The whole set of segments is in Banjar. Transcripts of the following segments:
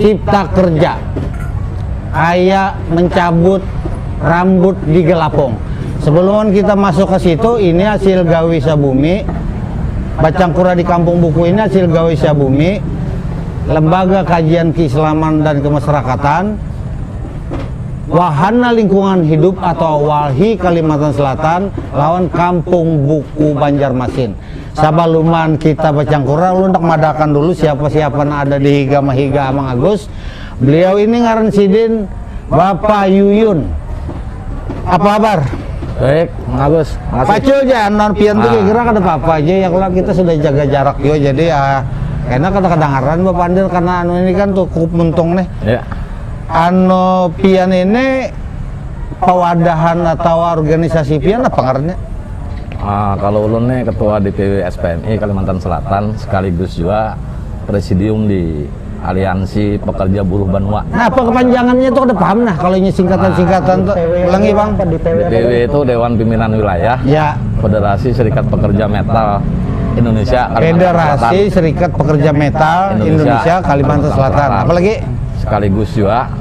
cipta kerja kayak mencabut rambut di gelapung sebelum kita masuk ke situ ini hasil gawi sabumi bacang kura di kampung buku ini hasil gawi sabumi lembaga kajian keislaman dan kemasyarakatan wahana lingkungan hidup atau walhi kalimantan selatan lawan kampung buku banjarmasin Sabaluman kita bacangkuran, ulun handak madahkan dulu siapa-siapa nang ada di higa mahiga Amang Agus. Beliau ini ngaran sidin Bapa Yuyun. Apa kabar? Baik, Mang Agus. Makasih. Pacul ja, non pian tuh ah. kira kada apa-apa aja ya kalau kita sudah jaga jarak juga jadi ya enak kada kedengaran Bapak Andil karena anu ini kan cukup mentung nih. Ya. Anu pian ini pewadahan atau organisasi pian apa ngarannya? Ah, kalu ulun ne ketua DPW SPMI Kalimantan Selatan sekaligus jua presidium di Aliansi Pekerja Buruh Banua. Nah, apa kepanjangannya itu kada paham nah kalau ini singkatan-singkatan tu. Ulangi bang. DPW itu Dewan Pimpinan Wilayah ya. Federasi Serikat Pekerja Metal Indonesia Kalimantan Selatan. Federasi Serikat Pekerja Metal Indonesia Kalimantan Selatan. Apa lagi? Sekaligus jua.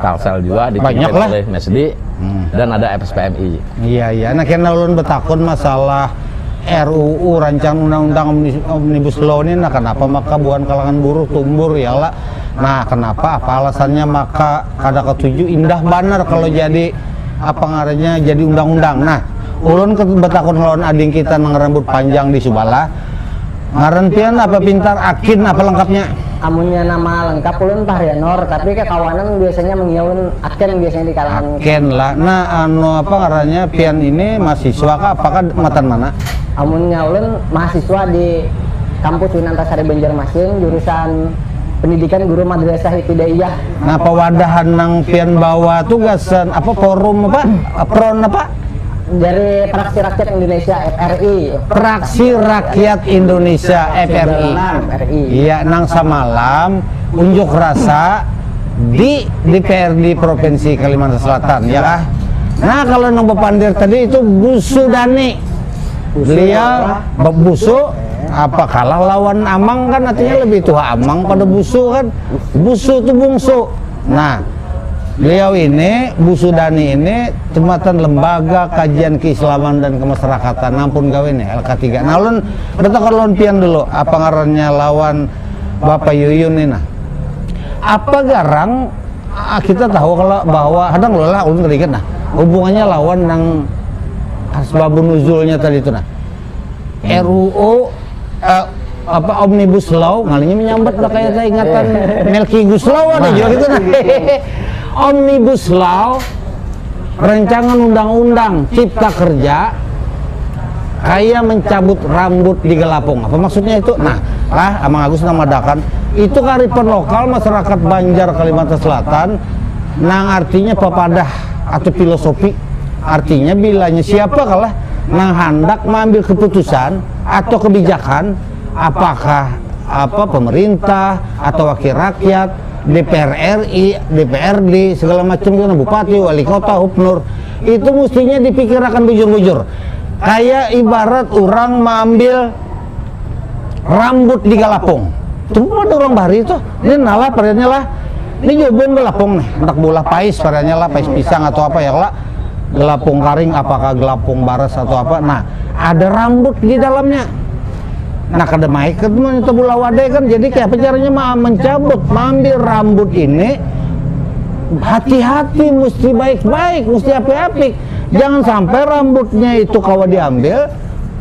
Kalsel juga dipimpin Banyaklah. oleh MSD hmm. dan ada FSPMI. Iya iya. Nah kena ulun betakun masalah RUU rancang undang-undang omnibus law ini nah kenapa maka bukan kalangan buruh tumbur ya lah. Nah kenapa apa alasannya maka kada ketujuh indah banar kalau jadi apa ngarannya jadi undang-undang. Nah ulun betakun lawan ading kita nang rambut panjang di Subala Ngaran pian apa pintar, akin, apa lengkapnya? Amunnya nama lengkap ulun Fahrianur, tapi kekawanan biasanya mengiyaun Aken biasanya di kalangan. Aken lah. Nah, anu apa ngarannya pian ini mahasiswa kah apakah matan mana? Amunnya ulun mahasiswa di Kampus Winantasari Banjarmasin jurusan Pendidikan Guru Madrasah Ibtidaiyah. Nah, pewadahan nang pian bawa tu gasan apa forum apa? Apron apa? Jari Praksi Rakyat Indonesia, FRI. Praksi Rakyat Indonesia, FRI, ya nang samalam unjuk rasa di DPRD Provinsi Kalimantan Selatan, ya kah? Nah, kalau nang bapandir tadi itu Busu Dani. Beliau Busu apa kalah lawan Amang kan artinya lebih tua Amang pada Busu kan. Busu itu bungsu. Nah, beliau ini, Bu Sudani ini, jematan Lembaga Kajian Keislaman dan Kemasyarakatan, ampun gawe ini, LK3. Nah, ulun bertakar lawan pian dulu, apa ngarannya lawan Bapak Yuyun ini nah. Apa garang ah, kita tahu kalau bahwa, hadang lah, ulun keringat nah, hubungannya lawan nang asbabun nuzulnya tadi itu nah. RUU eh, apa omnibus law ngalinya menyambat lah kayak saya ingatan Melki Guslow ada juga gitu nah. omnibus law rancangan undang-undang cipta kerja kayak mencabut rambut di gelapung apa maksudnya itu nah lah Amang Agus namadakan itu karipan lokal masyarakat Banjar Kalimantan Selatan nang artinya papadah atau filosofi artinya bilanya siapa kalah nang handak maambil keputusan atau kebijakan apakah apa pemerintah atau wakil rakyat DPR RI, DPRD, segala macam itu, bupati, wali kota, hubnur, itu mestinya dipikirkan bujur-bujur. Kayak ibarat orang maambil rambut di galapung tuh ada orang bahari tuh ini nalah pariannya lah ini jubung galapung nih anak bola pais pariannya lah pais pisang atau apa ya lah galapung karing apakah galapung baras atau apa nah ada rambut di dalamnya nah kada maik kan itu bola wade kan jadi kayak apa caranya mah mencabut mengambil rambut ini hati-hati mesti baik-baik mesti api-api jangan sampai rambutnya itu kawa diambil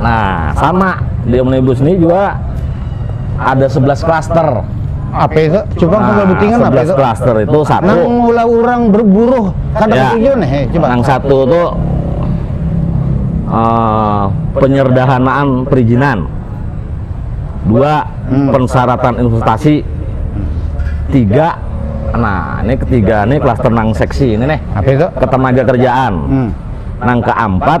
Nah, sama di omnibus ini juga ada 11 klaster. Apa itu? Coba nah, kalau butingan apa itu? klaster itu satu. Nang mula orang berburuh kada ya, ketiga nih, eh, coba. Nang satu itu uh, penyerdahanaan perizinan. Dua, hmm. pensyaratan investasi. Tiga, nah ini ketiga ini klaster nang seksi ini nih. Apa itu? Ketenaga kerjaan. Hmm. Nang keempat,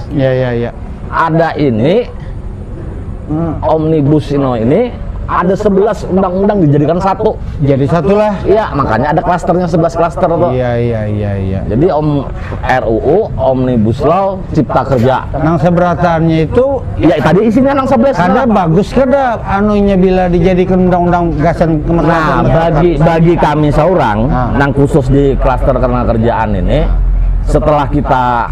ya ya ya ada ini hmm, omnibus ino ini ada 11 undang-undang dijadikan satu. Jadi satu lah. Iya, makanya ada klasternya 11 klaster tuh. Iya, iya, iya, iya. Jadi Om RUU, Omnibus Law, Cipta Kerja. Nang seberatannya itu ya tadi isinya nang 11. Kada bagus kada anunya bila dijadikan undang-undang gasan kemerdekaan. Nah, bagi bagi kami seorang nah. nang khusus di klaster kerja kerjaan ini setelah kita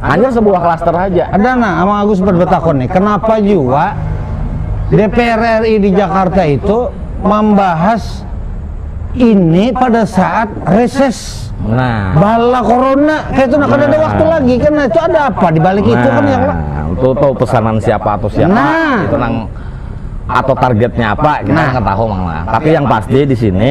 Hanya sebuah klaster saja. Ada nah, Amang Agus sempat bertakun nih, kenapa jua DPR RI di Jakarta itu membahas ini pada saat reses nah. bala corona kayak itu nah, kan ada waktu lagi kan nah, itu ada apa di balik nah. itu kan ya nah, itu tahu pesanan siapa atau siapa nah. itu nang atau targetnya apa kita nah. nggak tahu mang tapi yang pasti di sini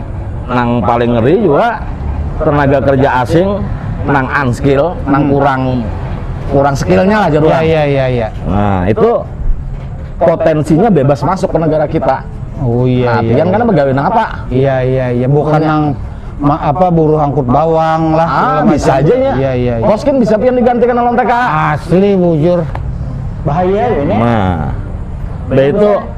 nang paling ngeri juga tenaga kerja asing nang unskill, nang hmm. kurang kurang skillnya lah jadi. Iya iya iya. Ya. Nah itu potensinya bebas masuk ke negara kita. Oh iya. Nah, iya, iya. kan pegawai nang apa? Iya iya iya. Bukan nang ma, apa buruh angkut bawang lah. Ah, bisa aja ya. Iya iya. iya. Koskin bisa pian digantikan oleh TK. Asli bujur. Bahaya ya ini. Nah. Nah itu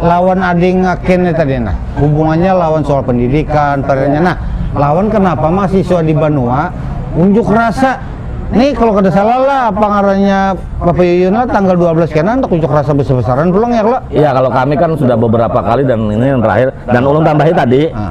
lawan ading akin ni tadi nah hubungannya lawan soal pendidikan tadinya nah lawan kenapa mahasiswa di Banua unjuk rasa ni kalau kada salah lah apa ngarannya Bapak Yuyun lah tanggal 12 kena handak unjuk rasa besar-besaran pulang ya kalau iya kalau kami kan sudah beberapa kali dan ini yang terakhir dan ulun tambahi tadi ah.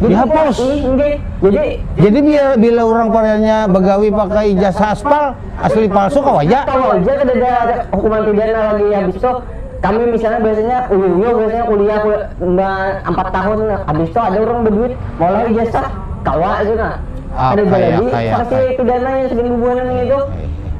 dihapus. Jadi jadi bila bila orang pariannya begawi pakai ijazah aspal asli palsu kau aja. Kau aja kedada ada hukuman pidana lagi habis itu kami misalnya biasanya uyu uyu biasanya kuliah empat tahun habis itu ada orang berduit malah ijazah kawa aja nah. Ah, ada jadi pasti pidana yang segini bubuhan ini itu.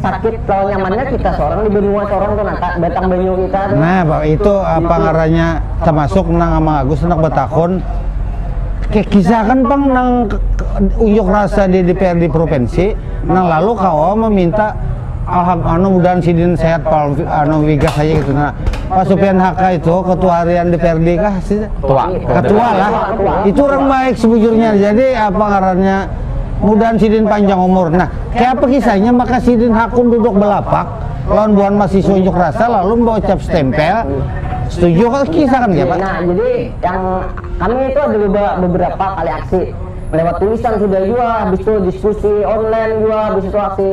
sakit lawan nyamannya kita seorang di benua seorang tuh nata batang banyu kita tuh. Nah, itu apa ngarannya termasuk nang Amang Agus hendak batakun kan pang nang unjuk rasa di DPRD provinsi nang lalu kawa meminta alham anu mudahan sidin sehat pal anu wiga saja gitu nah Pak Supian Haka itu ketua harian DPRD kah sih ketua ketua lah itu orang baik sebujurnya jadi apa ngarannya mudahan sidin panjang umur nah Kaya apa kisahnya maka sidin hakun duduk balapak lawan buhan masiswa unjuk rasa lalu membawa cap stempel setuju kah kisah kan kaya apa? Nah, jadi yang kami itu ada beberapa kali aksi lewat tulisan sudah jua, habis itu diskusi online jua, habis itu aksi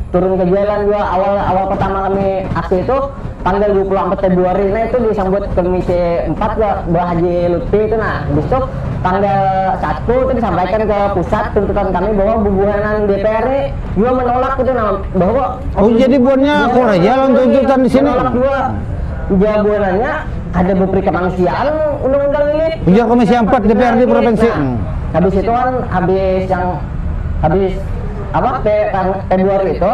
turun ke jalan jua. Awal awal pertama kami aksi itu tanggal 24 Februari, nah itu disambut Komisi 4 jua, Mbah Haji Lutfi itu nah. Habis itu Tanggal satu tu disampaikan ke pusat tuntutan kami bahwa bubuhanan DPR ni jua menolak itu nah bahwa Oh jadi buannya akur aja lawan tuntutan di sini. Menolak jua ujar buhanannya kada beperi kemanusiaan undang-undang ini. Ujar Komisi Ampat DPRD Provinsi. Nah, habis itu kan habis yang habis apa Februari itu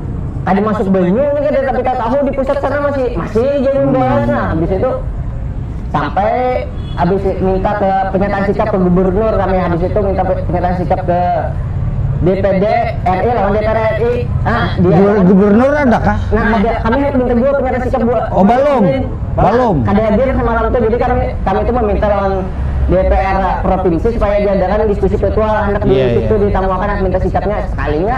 kada masuk banyu ini kada tapi tak tahu di pusat sana masih masih jadi membahas nah habis itu sampai habis minta ke pernyataan sikap ke gubernur kami habis itu minta pernyataan sikap ke DPD RI lawan DPR RI nah dia Gu- Gubernur ada kah? nah ada kami harus minta dua pernyataan sikap dua Oh, balum. Balum. kada hadir semalam itu jadi kami kami itu meminta lawan DPR provinsi supaya diadakan diskusi virtual anak di Iya, situ iya. ditamuakan anak minta sikapnya sekalinya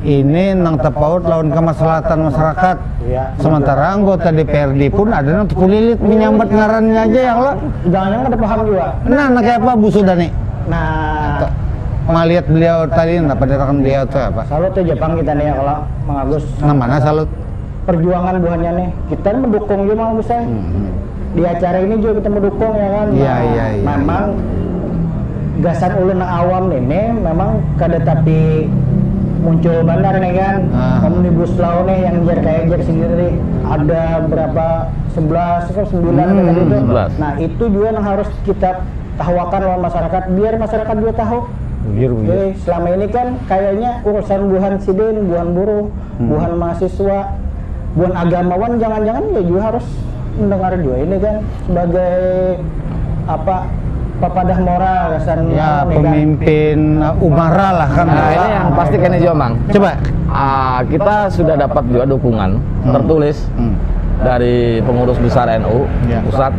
ini nang tapaut lawan kamaslahatan masarakat. Ya. Sementara anggota DPRD pun ada nang terkulilit menyambat ngarannya aja ya Allah. Jangan-jangan ada paham juga. Nah, nah kayak apa Bu Sudani? Nah, melihat beliau tadi apa dirakan beliau tuh apa? Salut tuh Jepang kita nih ya kalau Mang Agus. Nah, mana salut? perjuangan buhannya nih kita mendukung juga mang Agus hmm, hmm. di acara ini juga kita mendukung ya kan iya iya iya memang iya. gasan ulun awam ini memang kada tapi muncul bandar nih kan ah. omnibus law nih yang jer kayak jer sendiri ada berapa sebelas atau sembilan hmm, tadi itu nah itu juga yang harus kita tahuakan lawan masyarakat biar masyarakat juga tahu Bujur, bujur. Jadi selama ini kan kayaknya urusan buhan sidin, buhan buruh, buhan mahasiswa, buhan agamawan jangan-jangan ya jua harus mendengar jua ini kan sebagai apa papadah moral gasan ya, anu kan. pemimpin kan. umara lah kan. Nah, ini yang pasti kan jua mang. Coba uh, kita sudah dapat juga dukungan hmm. tertulis hmm. dari pengurus besar NU ya. pusat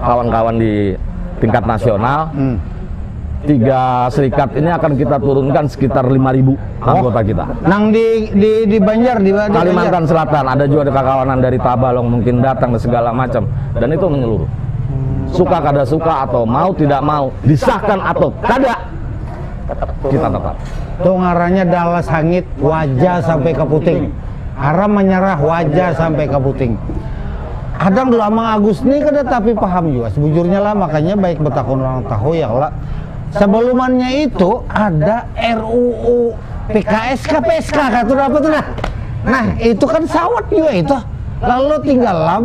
kawan-kawan di tingkat nasional, hmm. tiga serikat ini akan kita turunkan sekitar 5.000 anggota oh. kita. Nang di di di Banjar di, di Kalimantan Banjar. Selatan ada juga ada kawanan dari Tabalong mungkin datang dan segala macam dan itu menyeluruh. Suka kada suka atau mau tidak mau disahkan atau kada kita tetap. Tuh ngarannya dalas hangit wajah sampai ke puting. Aram menyerah wajah sampai ke puting. Kadang dulu Amang Agus nih kada tapi paham juga sebujurnya lah makanya baik betakun orang tahu ya kala. Sebelumannya itu ada RUU PKS kah PSK kah tuh apa tuh nah. Nah itu kan sawat juga itu. Lalu tinggal lam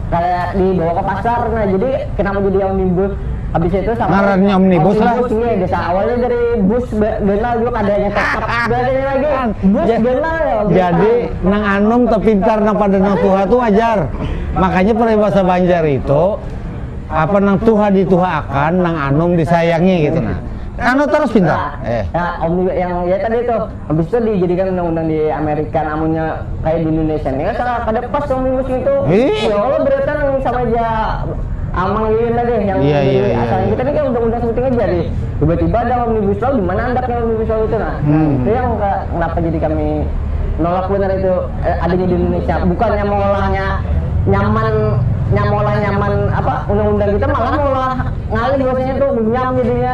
Kaya di bawa ke pasar nah jadi kenapa jadi omnibus habis itu sama ngarannya omnibus lah omnibus iya desa awalnya dari bus ganal juga kada yang tetap berarti lagi bus ja, ganal ya jadi nang anum terpintar nang pada nang tuha tuh wajar makanya peribahasa Banjar itu apa nang tuha dituha akan nang anum disayangi gitu nah anu terus pintar eh nah, om yang ya tadi tuh Habis tu dijadikan undang-undang di Amerika nah amunnya kaya di Indonesia nih asa kada pas omnibus ngitu. Ih. Ya Allah beratan nang sama ja Amang Lilin lah deh yang Iya, iya, jadi iya, asalnya iya. kita nih kaya undang-undang sebuting aja di tiba-tiba ada omnibus law di mana andaknya omnibus law itu nah. Nah Hmm. itu yang ka- kenapa jadi kami nolak banar itu eh, adanya di Indonesia bukannya meolahnya nyaman nya meolah nyaman apa undang-undang kita malah meolah ngalih bahasanya tuh runyam jadinya.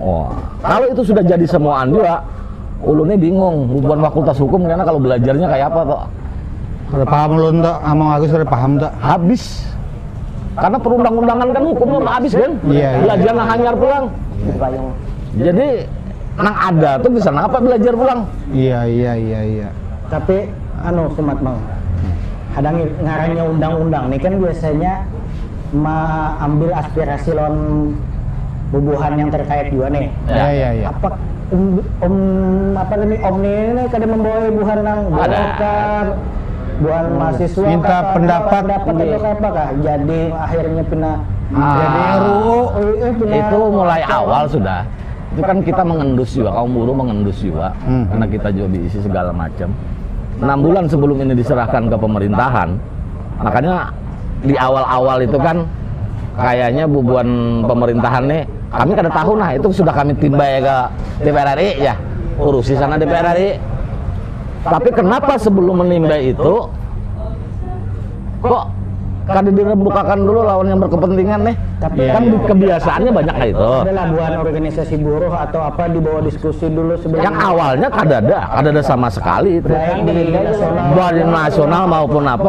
oh kalau itu sudah jadi semuaan juga ulunnya bingung bukan fakultas hukum karena kalau belajarnya kayak apa tuh ada paham ulun tuh sama Agus ada paham tuh habis karena perundang-undangan kan hukum mah habis kan iya, iya. belajar nang hanyar pulang jadi nang ada tuh bisa nang apa belajar pulang iya iya iya iya tapi anu sumat bang ada ngarannya undang-undang nih kan biasanya meambil aspirasi lawan bubuhan yang terkait jua nih. Ya, ya, ya. Apa um, um apa nih om nih kada membawa buhan nang golkar, buhan hmm. mahasiswa minta kata, pendapat pendapat iya. atau apa kah? Jadi akhirnya pina ah, jadi RUU eh, eh, itu mulai awal sudah itu kan kita mengendus juga kaum buruh mengendus juga hmm. karena kita juga diisi segala macam enam bulan sebelum ini diserahkan ke pemerintahan makanya di awal-awal itu kan kayaknya bubuan pemerintahan nih kami kada tahu nah itu sudah kami timbai ke DPR RI ya urusi sana DPR RI tapi kenapa sebelum menimbai itu kok kada dirembukakan dulu lawan yang berkepentingan nih tapi ya, kan ya. kebiasaannya banyak kayak itu ada labuan organisasi buruh atau apa dibawa diskusi dulu sebelum yang awalnya kada ada kada ada sama sekali itu baik di nasional maupun apa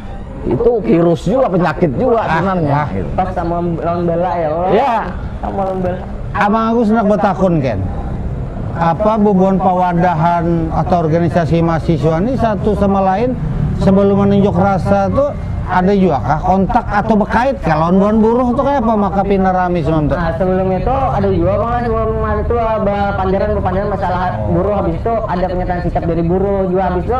itu virus juga penyakit juga sebenarnya ah, gitu. pas sama lawan bala ya orang ya sama lawan bala abang aku senang bertakun kan apa bubuhan pawadahan atau organisasi mahasiswa ini satu sama lain sebelum menunjuk rasa tuh ada juga kah kontak atau berkait kah lawan buhan buruh tuh kayak apa maka pina rame semua tuh nah, sebelum itu ada juga bang sebelum itu panjaran panjaran masalah buruh habis itu ada pernyataan sikap dari buruh juga habis itu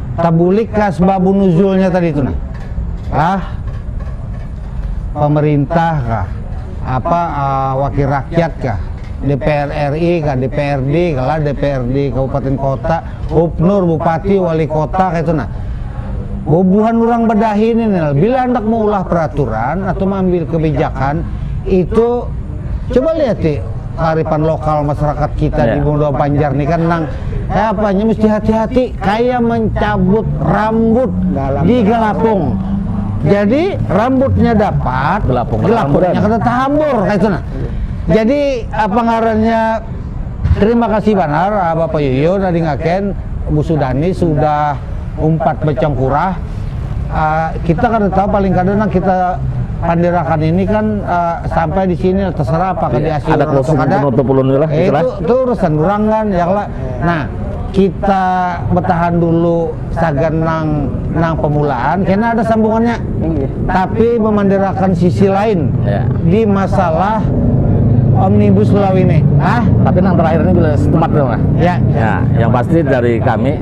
Tabulik ka asbabu nuzulnya tadi tu nah. Kah? Pemerintah kah? Apa uh, wakil rakyat kah? DPR RI kah? DPRD kah lah? DPRD kabupaten kota, gubernur, bupati, wali kota kayak itu nah. Bubuhan orang badahi ini nah, bila hendak mengulah peraturan atau mengambil kebijakan itu coba lihat sih kearifan lokal masyarakat kita yeah. di Bunda Banjar nih kan nang kayak apa nya mesti hati-hati kayak mencabut rambut Galap. di galapung jadi rambutnya dapat gelapung gelapungnya kata tahambur kayak itu nah jadi apa ngarannya terima kasih banar ah, Bapak Yuyun ada ngaken Bu Sudani sudah umpat bacangkurah uh, kita kada tahu paling kada nang kita pandirakan ini kan uh, sampai di sini terserah apa kan diasih ada closing penutup ulun lah eh, itu, itu urusan orang kan ya lah nah kita bertahan dulu sagan nang nang pemulaan karena ada sambungannya iya. tapi memandirakan sisi lain iya. di masalah omnibus law ini ah tapi yang terakhir ini sudah setempat dong ya, ya. ya yang pasti dari kami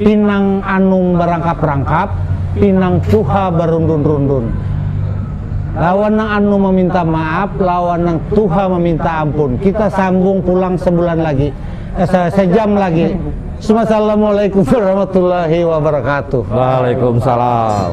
Pinang anum barangkap-rangkap, pinang tuha barundun-rundun. Lawan nang anum maminta maaf, lawan nang tuha maminta ampun. Kita sambung pulang sebulan lagi, eh, sejam lagi. Sumassalamualaikum warahmatullahi wabarakatuh. Waalaikumsalam.